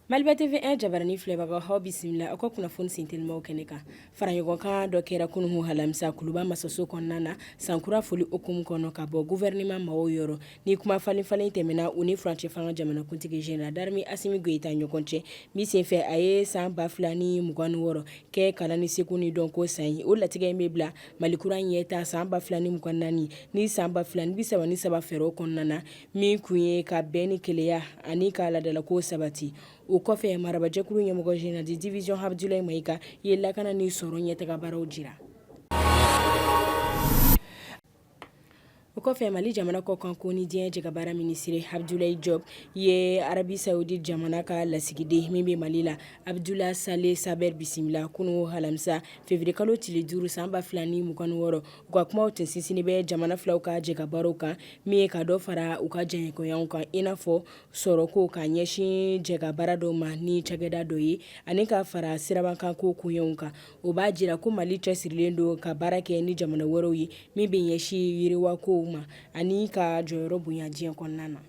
Maliba TV 1 jabarani filɛbagaw aw bisimila aw ka kunnafoni sen telimaw kɛnɛ kan faraɲɔgɔnkan dɔ kɛra kunun alamisa kuluba masaso kɔnɔna na sankura foli hukumu kɔnɔ ka bɔ gouvernement maaw yɔrɔ Ni kumafalenfalen tɛmɛna u ni furancɛ fanga jamanakuntigi jenerali darime asimi goyita ɲɔgɔn cɛ min senfɛ a ye san ba 2 ni mugan wɔɔrɔ kɛ kalan ni seko ni dɔnko san ye o latigɛ in bɛ bila mali kura in ɲɛtaa san ba 2 ni mugan naani ni san ba fula ni bi3 ni saba fɛɛrɛ kɔnɔna na min kun ye ka bɛn ni kelenya ani ka laadalakow sabati o kɔfɛ marabajɛkulu ɲɛmɔgɔ jenerali de divizyɔn abudulayi mayiga ye lakana ni sɔrɔ ɲɛtagabaaraw jira o kɔfɛ mali jamana kɔkanko ni diɲɛ jɛkabaara minisiri abudulayi jɔpu ye arabi sawudi jamana ka lasigiden min bɛ mali la abudula sale sabiri bisimila kunun alamisa feburuyekalo tile duuru san ba 2 ni mugan wɔɔrɔ u ka kuma tun sinsinnen bɛ jamana fila ka jɛkabaara kan min ye ka dɔ fara u ka jɛɲɔgɔnya kan i n'a fɔ sɔrɔko ka ɲɛsin jɛkabaara dɔ ma ni cakɛda dɔ ye ani k'a fara sirabakan ko kunw kan o b'a jira ko mali cɛsirilen don ka baara kɛ ni jamana wɛrɛw ye min bɛ ɲɛsin yiriwakow ma ani ka jɔyɔrɔ bonya diɲɛ kɔnɔna na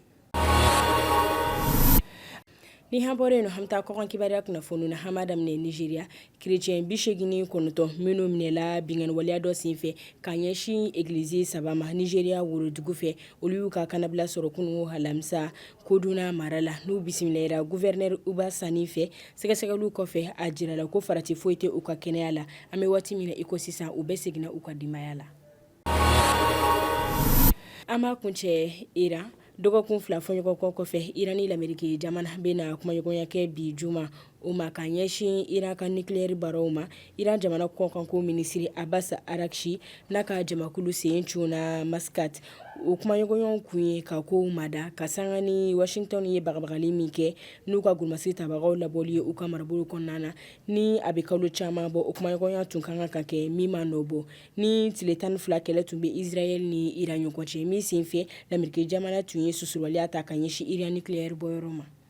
ni an bɔra yen an bɛ taa kɔkan kibaruya kunnafoni na an b'a daminɛ nizeriya kerecɛn bi segin ni kɔnɔntɔn minnu minɛla binkanniwaleya dɔ senfɛ ka ɲɛsin egilizi saba ma nizeriya worodugu fɛ olu y'u ka kannabila sɔrɔ kunun alamisa kaduna mara la n'u bisimilara guvɛrinɛri uba sani fɛ sɛgɛsɛgɛliw kɔfɛ a jirala ko farati foyi tɛ u ka kɛnɛya la an bɛ waati min na i ko sisan u bɛɛ seginna u ka denbaya la an b'a kuncɛ iran dɔgɔkun fila fɔɲɔgɔnkɔ kɔfɛ iran ni lameriki jamana bɛna kumaɲɔgɔnya kɛ bi juma o ma ka ɲɛsin Iran ka nucleaire baaraw ma, Iran jamana kɔkanko minisiri Abbas Araghchi n'a ka jamakulu sen cunna Muscat, o kumaɲɔgɔnyaw kun ye ka kow mada ka sanga ni Washington ye bagabagali min kɛ n'u ka golomasigi tabagaw labɔli ye u ka marabolo kɔnɔna na, ni a bɛ kalo caman bɔ, o kumaɲɔgɔnya tun ka kan ka kɛ min ma nɔ bɔ, ni tile tan ni fila kɛlɛ tun bɛ Israel ni Iran ɲɔgɔn cɛ, min senfɛ lameriki jamana tun ye susubaliya ta ka ɲɛsin Iran nucleaire bɔyɔrɔ ma.